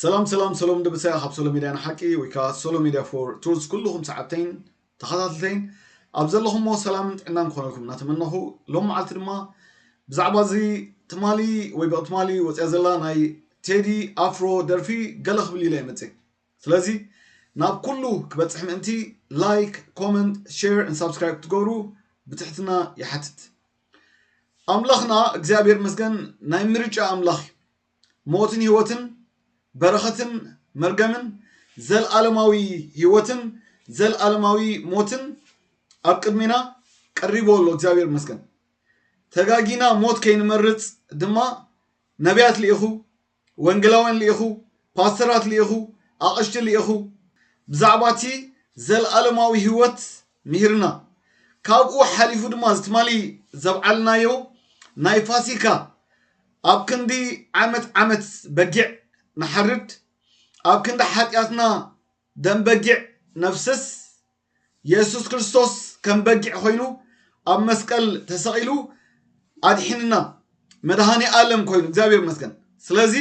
ሰላም ሰላም ሰሎም ድብሰያ ካብ ሶሎ ሚድያ ንሓቂ ወይ ከዓ ሶሎ ሚድያ ፎር ቱርስ ኩልኹም ሰዓብተይን ተኸታተልተይን ኣብ ዘለኹምዎ ሰላምን ጥዕናን ክኾነልኩም እናተመነኹ ሎም መዓልቲ ድማ ብዛዕባ እዚ ትማሊ ወይ ብቅ ትማሊ ወፅያ ዘላ ናይ ቴዲ ኣፍሮ ደርፊ ገለ ክብል ኢለ ይመፅእ ስለዚ ናብ ኩሉ ክበጽሕ ምእንቲ ላይክ ኮመንት ሸር ን ሳብስክራይብ ክትገብሩ ብትሕትና ይሓትት ኣምላኽና እግዚኣብሔር መስገን ናይ ምርጫ ኣምላኽ እዩ ሞትን ህይወትን በረኸትን መርገምን ዘልዓለማዊ ህይወትን ዘልዓለማዊ ሞትን ኣብ ቅድሜና ቀሪቦ ኣሎ እግዚኣብሔር መስገን ተጋጊና ሞት ከይንመርጽ ድማ ነቢያት ልኢኹ ወንጌላውያን ልኢኹ፣ ፓስተራት ልኢኹ፣ ኣቕሽቲ ልኢኹ፣ ብዛዕባ እቲ ዘለኣለማዊ ህይወት ምሂርና። ካብኡ ሓሊፉ ድማ እዚ ትማሊ ዘብዓልናዮ ናይ ፋሲካ ኣብ ክንዲ ዓመት ዓመት በጊዕ ንሓርድ፣ ኣብ ክንዲ ሓጢኣትና ደም በጊዕ ነፍስስ፣ የሱስ ክርስቶስ ከም በጊዕ ኮይኑ ኣብ መስቀል ተሰቒሉ ኣድሒንና መድሃኒ ኣለም ኮይኑ እግዚኣብሔር መስገን ስለዚ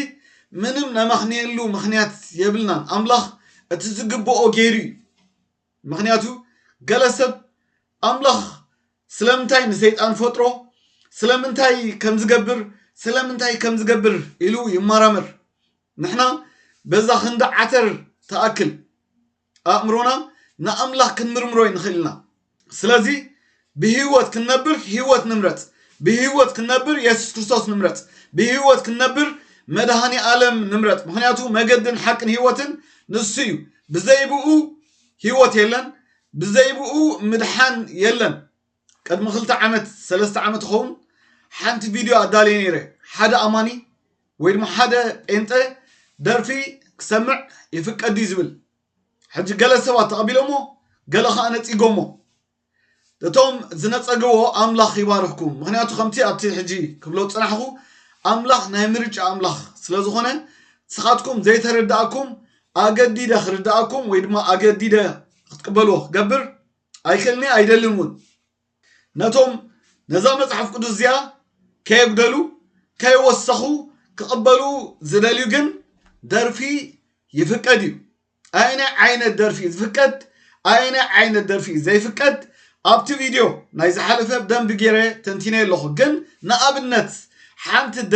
ምንም ነመኽንየሉ ምኽንያት የብልናን ኣምላኽ እቲ ዝግብኦ ገይሩ እዩ ምኽንያቱ ገለ ሰብ ኣምላኽ ስለምንታይ ንሰይጣን ፈጥሮ ስለምንታይ ከም ዝገብር ስለምንታይ ከም ዝገብር ኢሉ ይመራመር ንሕና በዛ ክንዲ ዓተር ተኣክል ኣእምሮና ንኣምላኽ ክንምርምሮ ንኽእል ኢና። ስለዚ ብህይወት ክንነብር ህይወት ንምረጽ። ብህይወት ክንነብር የሱስ ክርስቶስ ንምረጽ። ብህይወት ክንነብር መድሃኒ ኣለም ንምረጽ። ምክንያቱ መገድን ሓቅን ህይወትን ንሱ እዩ። ብዘይብኡ ህይወት የለን፣ ብዘይብኡ ምድሓን የለን። ቅድሚ ክልተ ዓመት ሰለስተ ዓመት ይኸውን ሓንቲ ቪድዮ ኣዳልየ ነይረ ሓደ ኣማኒ ወይ ድማ ሓደ ጴንጠ ደርፊ ክሰምዕ ይፍቀድ ድዩ ዝብል ሕጂ ገለ ሰባት ተቐቢሎሞ ገለ ከዓ ነጺጎሞ እቶም ዝነጸግዎ ኣምላኽ ይባርኽኩም ምክንያቱ ከምቲ ኣብቲ ሕጂ ክብሎ ጽናሕኹ ኣምላኽ ናይ ምርጫ ኣምላኽ ስለ ዝኾነ ንስኻትኩም ዘይተረዳእኩም ኣገዲደ ክርዳእኩም ወይ ድማ ኣገዲደ ክትቅበልዎ ክገብር ኣይክእልን'የ ኣይደልን እውን። ነቶም ነዛ መጽሓፍ ቅዱስ እዚኣ ከየጉደሉ ከየወሰኹ ክቕበሉ ዝደልዩ ግን ደርፊ ይፍቀድ እዩ። ኣየናይ ዓይነት ደርፊ እዩ ዝፍቀድ ኣየናይ ዓይነት ደርፊ እዩ ዘይፍቀድ ኣብቲ ቪድዮ ናይ ዝሓለፈ ብደንቢ ገይረ ተንቲነ ኣለኹ። ግን ንኣብነት ሓንቲ ደ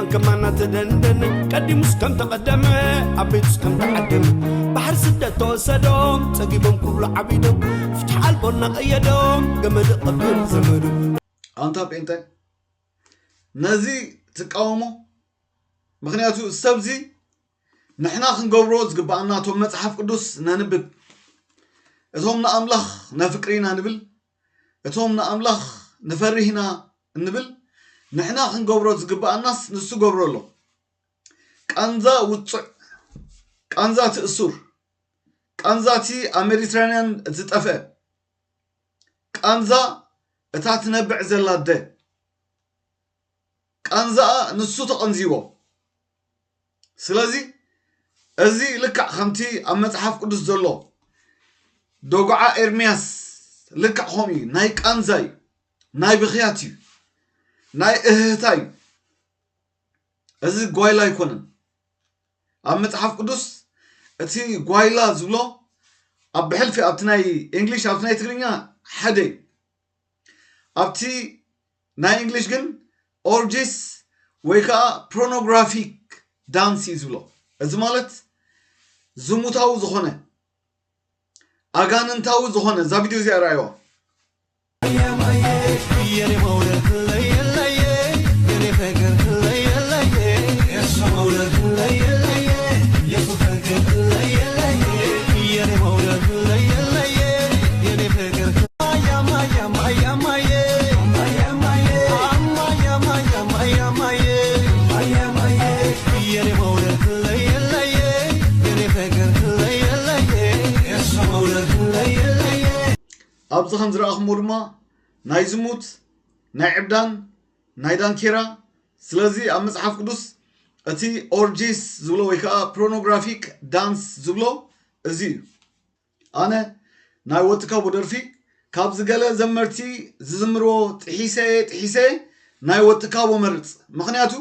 ከማና ተደንደነ ቀዲሙስ ከም ተቐደመ ኣብ ቤቱስ ከም ተዓደመ ባሕሪ ስደት ተወሰዶም ጸጊቦም ክብሉ ዓቢዶም ፍትሒ ኣልቦ እናቐየዶም ገመድ ቐብር ዘመዱ ኣንታ ጴንጠ ነዚ ትቃወሞ ምክንያቱ ሰብዚ ንሕና ክንገብሮ ዝግባኣና እቶም መፅሓፍ ቅዱስ ነንብብ እቶም ንኣምላኽ ነፍቅሪና ንብል እቶም ንኣምላኽ ንፈርህ ኢና እንብል ንሕና ክንገብሮ ዝግብኣናስ ንሱ ገብሮ ኣሎ ቃንዛ ውጹዕ ቃንዛ እቲ እሱር ቃንዛ እቲ ኣብ ሜዲትራንያን ዝጠፍአ ቃንዛ እታ ትነብዕ ዘላ ኣደ ቃንዛኣ ንሱ ተቐንዚዎ ስለዚ እዚ ልክዕ ከምቲ ኣብ መጽሓፍ ቅዱስ ዘሎ ዶግዓ ኤርምያስ ልክዕ ከምኡ እዩ ናይ ቃንዛ እዩ ናይ ብኽያት እዩ ናይ እህህታ እዩ እዚ ጓይላ ኣይኮነን ኣብ መጽሓፍ ቅዱስ እቲ ጓይላ ዝብሎ ኣብ ብሕልፊ ኣብቲ ናይ እንግሊሽ ኣብቲ ናይ ትግርኛ ሓደ እዩ ኣብቲ ናይ እንግሊሽ ግን ኦርጂስ ወይ ከዓ ፕሮኖግራፊክ ዳንስ እዩ ዝብሎ እዚ ማለት ዝሙታዊ ዝኾነ ኣጋንንታዊ ዝኾነ እዛ ቪድዮ እዚኣ ረኣይዋ ኣብዚ ከም ዝረኣኹምዎ ድማ ናይ ዝሙት ናይ ዕብዳን ናይ ዳንኬራ ስለዚ ኣብ መፅሓፍ ቅዱስ እቲ ኦርጂስ ዝብሎ ወይ ከዓ ፕሮኖግራፊክ ዳንስ ዝብሎ እዚ እዩ ኣነ ናይ ወትካቡ ደርፊ ካብ ዝገለ ዘመርቲ ዝዝምርዎ ጥሒሰየ ጥሒሰየ ናይ ወትካቡ መርጽ ምኽንያቱ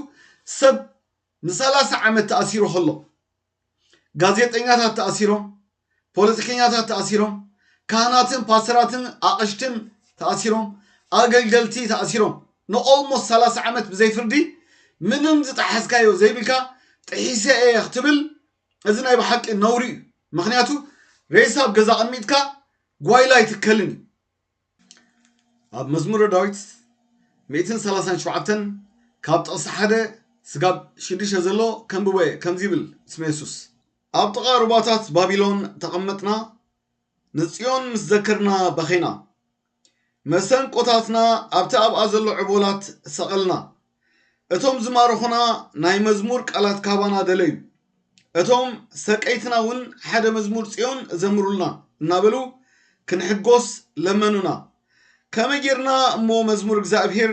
ሰብ ንሳላሳ ዓመት ተኣሲሩ ከሎ ጋዜጠኛታት ተኣሲሮም ፖለቲከኛታት ተኣሲሮም ካህናትን ፓስተራትን ኣቕሽትን ተኣሲሮም ኣገልገልቲ ተኣሲሮም ንኦልሞስት ሳላሳ ዓመት ብዘይ ፍርዲ ምንም ዝጠሓስካዮ ዘይብልካ ጥሒሰ እየ ክትብል እዚ ናይ ብሓቂ ነውሪ እዩ ምክንያቱ ሬሳ ኣብ ገዛ ኣቀሚጥካ ጓይላ ኣይትከልን እዩ ኣብ መዝሙረ ዳዊት ሚእትን ሰላሳን ሸውዓተን ካብ ጥቕሲ ሓደ ስጋብ ሽዱሽተ ዘሎ ከንብቦ እየ ከምዚ ይብል ስመ የሱስ ኣብ ጥቓ ሩባታት ባቢሎን ተቐመጥና ንጽዮን ምስ ዘከርና በኼና። መሰንቆታትና ኣብቲ ኣብኣ ዘሎ ዕቦላት ሰቐልና። እቶም ዝማረኹና ናይ መዝሙር ቃላት ካባና ደለዩ። እቶም ሰቀይትና እውን ሓደ መዝሙር ጽዮን ዘምሩልና እናበሉ ክንሕጎስ ለመኑና። ከመይ ጌርና እሞ መዝሙር እግዚኣብሄር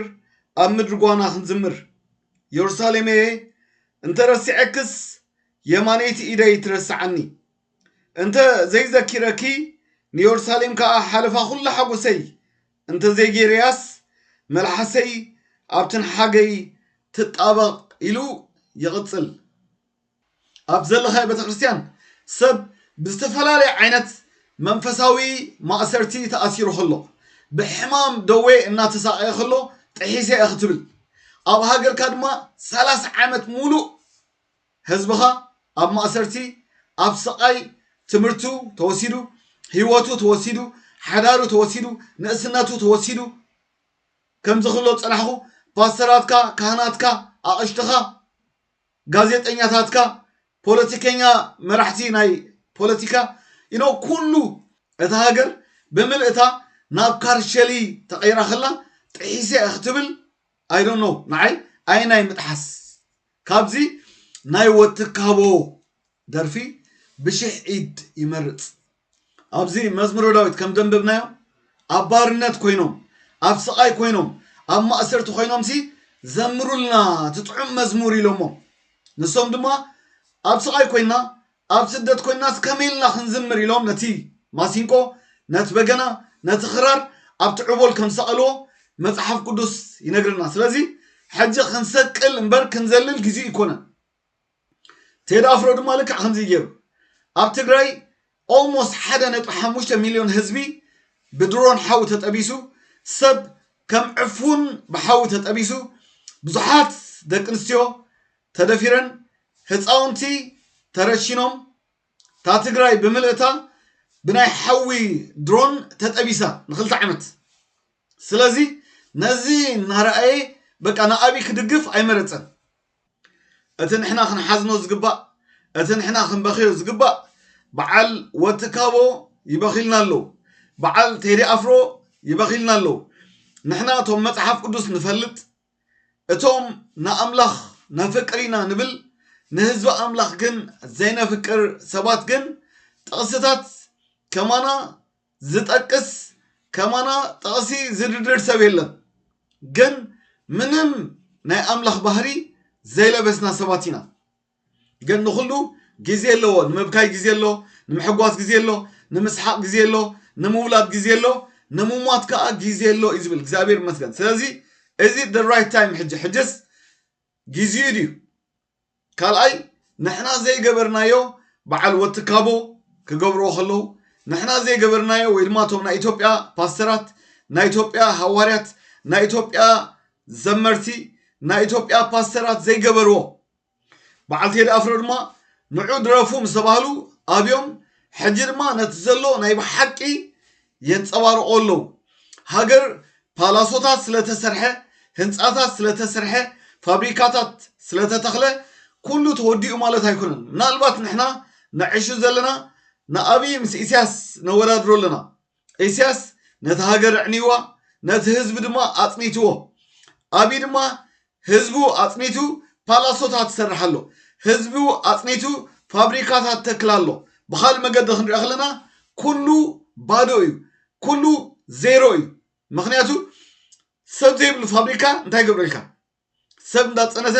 ኣብ ምድሪ ጓና ክንዝምር? የሩሳሌመየ እንተ ረሲዐክስ የማነይቲ ኢደይ ትረስዓኒ። እንተ ዘይዘኪረኪ ንዮርሳሌም ከኣ ሓለፋ ኩሉ ሓጎሰይ እንተ ዘይጌረያስ መልሓሰይ ኣብ ትንሓገይ ትጣበቕ ኢሉ ይቕጽል። ኣብ ዘለኻዮ ቤተክርስትያን ሰብ ብዝተፈላለየ ዓይነት መንፈሳዊ ማእሰርቲ ተኣሲሩ ከሎ፣ ብሕማም ደዌ እናተሳቐየ ከሎ ጥሒሰ እየ ክትብል፣ ኣብ ሃገርካ ድማ ሰላሳ ዓመት ሙሉእ ህዝብኻ ኣብ ማእሰርቲ ኣብ ስቓይ ትምህርቱ ተወሲዱ ሂወቱ ተወሲዱ ሓዳሩ ተወሲዱ ንእስነቱ ተወሲዱ ከምዚ ክብሎ ዝጸናሕኩ ፓስተራትካ ካህናትካ ኣቕሽትኻ ጋዜጠኛታትካ ፖለቲከኛ መራሕቲ ናይ ፖለቲካ ኢኖ ኩሉ እታ ሃገር ብምልእታ ናብ ካርሸሊ ተቐይራ ከላ ጥሒሰ ክትብል ኣይ ዶንት ኖው ንዓይ ኣየናይ ምጥሓስ ካብዚ ናይ ወትካቦ ደርፊ ብሽሕ ኢድ ይመርጽ። ኣብዚ መዝሙረ ዳዊት ከም ዘንበብናዮ ኣብ ባርነት ኮይኖም ኣብ ስቓይ ኮይኖም ኣብ ማእሰርቲ ኮይኖምሲ ዘምሩልና እቲ ጥዑም መዝሙር ኢሎሞም ንሶም ድማ ኣብ ስቓይ ኮይና ኣብ ስደት ኮይንናስ ከመይ ኢልና ክንዝምር ኢሎም ነቲ ማሲንቆ፣ ነቲ በገና፣ ነቲ ክራር ኣብቲ ዑቦል ከም ዝሰቐልዎ መጽሓፍ ቅዱስ ይነግረና። ስለዚ ሕጂ ክንሰቅል እምበር ክንዘልል ግዜኡ ኣይኮነን። ቴዲ ኣፍሮ ድማ ልክዕ ከምዚ ገይሩ ኣብ ትግራይ ኦልሞስት ሓደ ነጥቢ ሓሙሽተ ሚልዮን ህዝቢ ብድሮን ሓዊ ተጠቢሱ ሰብ ከም ዕፉን ብሓዊ ተጠቢሱ ብዙሓት ደቂ ኣንስትዮ ተደፊረን ህፃውንቲ ተረሺኖም እታ ትግራይ ብምልእታ ብናይ ሓዊ ድሮን ተጠቢሳ ንክልተ ዓመት ስለዚ ነዚ እናረኣየ በቃ ንኣብይ ክድግፍ ኣይመረፀን እቲ ንሕና ክንሓዝኖ ዝግባእ እቲ ንሕና ክንበክዮ ዝግባእ በዓል ወትካቦ ይበኪልና ኣለዉ በዓል ቴዲ ኣፍሮ ይበኪልና ኣለዉ ንሕና እቶም መፅሓፍ ቅዱስ ንፈልጥ እቶም ንኣምላኽ ነፍቅር ኢና ንብል ንህዝቢ ኣምላኽ ግን ዘይነፍቅር ሰባት ግን ጥቕስታት ከማና ዝጠቅስ ከማና ጥቕሲ ዝድርድር ሰብ የለን ግን ምንም ናይ ኣምላኽ ባህሪ ዘይለበስና ሰባት ኢና ግን ንኹሉ ግዜ ኣለዎ ንምብካይ ግዜ ኣሎ ንምሕጓስ ግዜ ኣሎ ንምስሓቅ ግዜ ኣሎ ንምውላድ ግዜ ኣሎ ንምሟት ከዓ ግዜ ኣሎ እዩ ዝብል እግዚኣብሔር ይመስገን ስለዚ እዚ the right time ሕጂ ሕጅስ ግዜኡ ድዩ ካልኣይ ንሕና ዘይገበርናዮ በዓል ወትካቦ ክገብርዎ ከለዉ ንሕና ዘይገበርናዮ ወይ ድማ እቶም ናይ ኢትዮጵያ ፓስተራት ናይ ኢትዮጵያ ሃዋርያት ናይ ኢትዮጵያ ዘመርቲ ናይ ኢትዮጵያ ፓስተራት ዘይገበርዎ በዓል ቴዲ ኣፍሮ ድማ ንዑ ድረፉ ምስ ተባህሉ ኣብዮም ሕጂ ድማ ነቲ ዘሎ ናይ ብሓቂ የንጸባርቆ ኣለዉ ሃገር ፓላሶታት ስለተሰርሐ ህንጻታት ስለተሰርሐ ፋብሪካታት ስለተተኽለ ኩሉ ተወዲኡ ማለት ኣይኮነን ምናልባት ንሕና ነዕሹ ዘለና ንኣብይ ምስ ኢሳያስ ነወዳድሮ ኣለና ኢሲያስ ነቲ ሃገር ኣዕኒዋ ነቲ ህዝቢ ድማ ኣጽኒትዎ ኣቢ ድማ ህዝቡ ኣጽኒቱ ፓላሶታት ይሰርሕ ኣሎ ህዝቡ ኣጽኒቱ ፋብሪካታት ተክል ኣሎ ብኻልእ መገዲ ክንሪኦ ከለና ኩሉ ባዶ እዩ ኩሉ ዜሮ እዩ ምክንያቱ ሰብ ዘይብሉ ፋብሪካ እንታይ ገብረልካ ሰብ እንዳፀነተ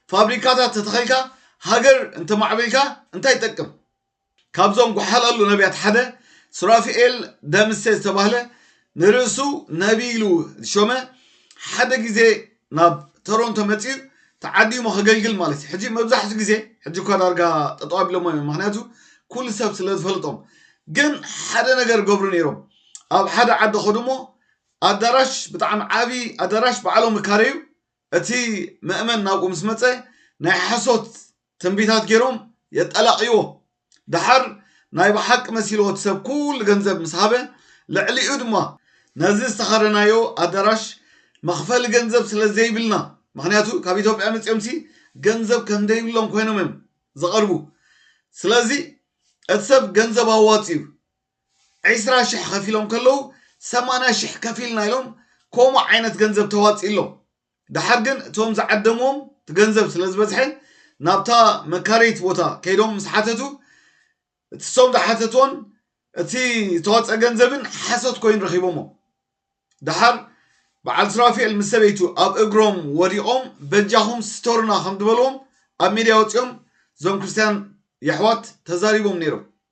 ፋብሪካታት ተተኸልካ ሃገር እንተማዕቢልካ እንታይ ይጠቅም? ካብዞም ጓሓላሉ ነብያት ሓደ ሱራፊኤል ደምሴ ዝተባህለ ንርእሱ ነብይ ኢሉ ዝሾመ ሓደ ግዜ ናብ ቶሮንቶ መፂኡ ተዓዲሙ ከገልግል ማለት እዩ። ሕጂ መብዛሕትኡ ግዜ ሕጂ እኳ ዳርጋ ጠጠው ኣቢሎሞ እዮም ምክንያቱ ኩሉ ሰብ ስለ ዝፈልጦም ግን ሓደ ነገር ገብሩ ነይሮም ኣብ ሓደ ዓዲ ከዱሞ ኣዳራሽ ብጣዕሚ ዓቢ ኣዳራሽ ባዕሎም እካረዩ እቲ መእመን ናብኡ ምስ መጸ ናይ ሓሶት ትንቢታት ጌሮም የጣላቅይዎ ደሓር ናይ ብሓቂ መሲልዎ እቲ ሰብ ኩሉ ገንዘብ ምስ ሃበ ልዕሊኡ ድማ ነዚ ዝተከረናዮ ኣዳራሽ መክፈሊ ገንዘብ ስለ ዘይብልና ምክንያቱ ካብ ኢትዮጵያ መጺኦምሲ ገንዘብ ከም ደይብሎም ኮይኖም እዮም ዝቀርቡ ስለዚ እቲ ሰብ ገንዘብ ኣዋጺኡ ዕስራ ሽሕ ኸፊሎም ከለዉ ሰማንያ ሽሕ ከፊልና ኢሎም ከምኡ ዓይነት ገንዘብ ተዋጺእሎም ደሓር ግን እቶም ዝዓደምዎም እቲ ገንዘብ ስለ ዝበዝሐ ናብታ መካረይት ቦታ ከይዶም ምስ ሓተቱ እቲ ሶም ዝሓተትዎን እቲ ዝተዋፀ ገንዘብን ሓሶት ኮይኑ ረኺቦሞ ደሓር በዓል ሱራፌል ምስ ሰበይቱ ኣብ እግሮም ወዲቖም በጃኹም ስተሩና ከም ዝበልዎም ኣብ ሚድያ ወፂኦም እዞም ክርስትያን የሕዋት ተዛሪቦም ነይሮም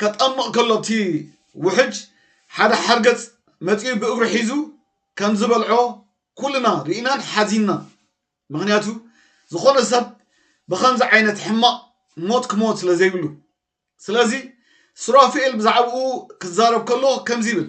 ከጠምቕ ከሎ እቲ ውሕጅ ሓደ ሓርገጽ መጺኡ ብእግሩ ሒዙ ከም ዝበልዖ ኩልና ርኢናን ሓዚንናን። ምኽንያቱ ዝኾነ ሰብ ብኸምዚ ዓይነት ሕማቕ ሞት ክሞት ስለ ዘይብሉ። ስለዚ ሱራፊኤል ብዛዕባኡ ክዛረብ ከሎ ከምዚ ይብል።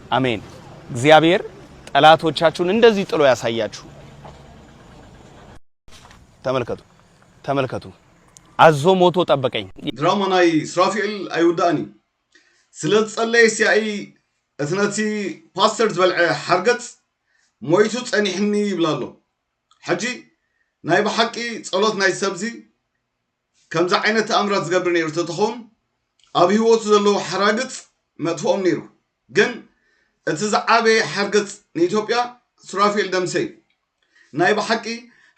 ኣሜን እግዚኣብሔር ጠላቶቻችሁን እንደዚህ ጥሎ ያሳያችሁ። ተመልከቱ ተመልከቱ፣ ኣዞ ሞቶ ጠበቀኝ። ድራማ ናይ ስራፊኤል ኣይውዳእን እዩ ስለ ዝጸለየ ሲያኢ እቲ ነቲ ፓስተር ዝበልዐ ሓርገጽ ሞይቱ ጸኒሕኒ ይብላ ኣሎ ሕጂ ናይ ብሓቂ ጸሎት ናይ ሰብዚ ከምዚ ዓይነት ተኣምራት ዝገብር ነይሩ ተተኸውን ኣብ ህይወቱ ዘለዉ ሓራግጽ መጥፍኦም ነይሩ ግን እቲ ዝዓበየ ሓርገጽ ንኢትዮጵያ ሱራፌል ደምሴ እዩ ናይ ብሓቂ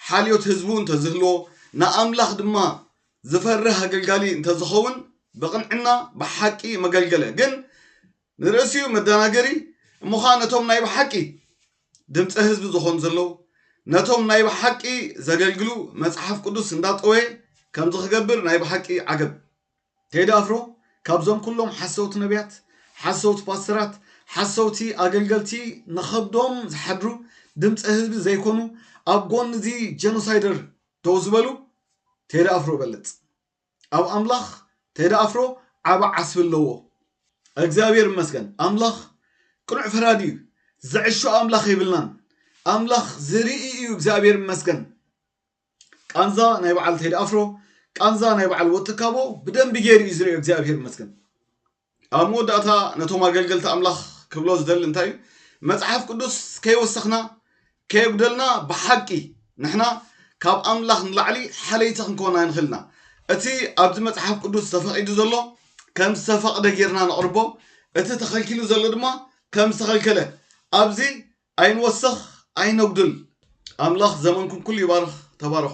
ሓልዮት ህዝቡ እንተዝህልዎ ንኣምላኽ ድማ ዝፈርህ ኣገልጋሊ እንተዝኸውን ብቕንዕና ብሓቂ መገልገለ ግን ንርእሲኡ መደናገሪ እሞኸኣ ነቶም ናይ ብሓቂ ድምጸ ህዝቢ ዝኾኑ ዘለዉ ነቶም ናይ ብሓቂ ዘገልግሉ መጽሓፍ ቅዱስ እንዳጠወየ ከምዚ ክገብር ናይ ብሓቂ ዓገብ። ቴዲ ኣፍሮ ካብዞም ኩሎም ሓሰውቲ ነብያት ሓሰውቲ ፓስተራት ሓሰውቲ ኣገልገልቲ ንኸብዶም ዝሓድሩ ድምጸ ህዝቢ ዘይኮኑ ኣብ ጎኒ እዚ ጀኖሳይደር ደው ዝበሉ ቴዲ ኣፍሮ በልጽ ኣብ ኣምላኽ ቴዲ ኣፍሮ ዓቢ ዓስቢ ኣለዎ። እግዚኣብሔር ይመስገን ኣምላኽ ቅኑዕ ፈራዲ እዩ ዝዕሾ ኣምላኽ የብልናን ኣምላኽ ዝርኢ እዩ እግዚኣብሔር ይመስገን ቃንዛ ናይ በዓል ቴዲ ኣፍሮ ቃንዛ ናይ በዓል ወትካቦ ብደንቢ ገይሩ እዩ ዝርእዮ እግዚኣብሔር ይመስገን ኣብ መወዳእታ ነቶም ኣገልገልቲ ኣምላኽ ክብሎ ዝደሊ እንታይ እዩ? መጽሓፍ ቅዱስ ከይወሰኽና ከየጉደልና ብሓቂ ንሕና ካብ ኣምላኽ ንላዕሊ ሓለይቲ ክንከውን ኣይንኽእል ኢና። እቲ ኣብዚ መጽሓፍ ቅዱስ ተፈቒዱ ዘሎ ከም ዝተፈቕደ ጌርና ነቕርቦ፣ እቲ ተኸልኪሉ ዘሎ ድማ ከም ዝተኸልከለ። ኣብዚ ኣይንወሰኽ ኣይነጉድል። ኣምላኽ ዘመንኩም ኩሉ ይባርኽ። ተባረኹ።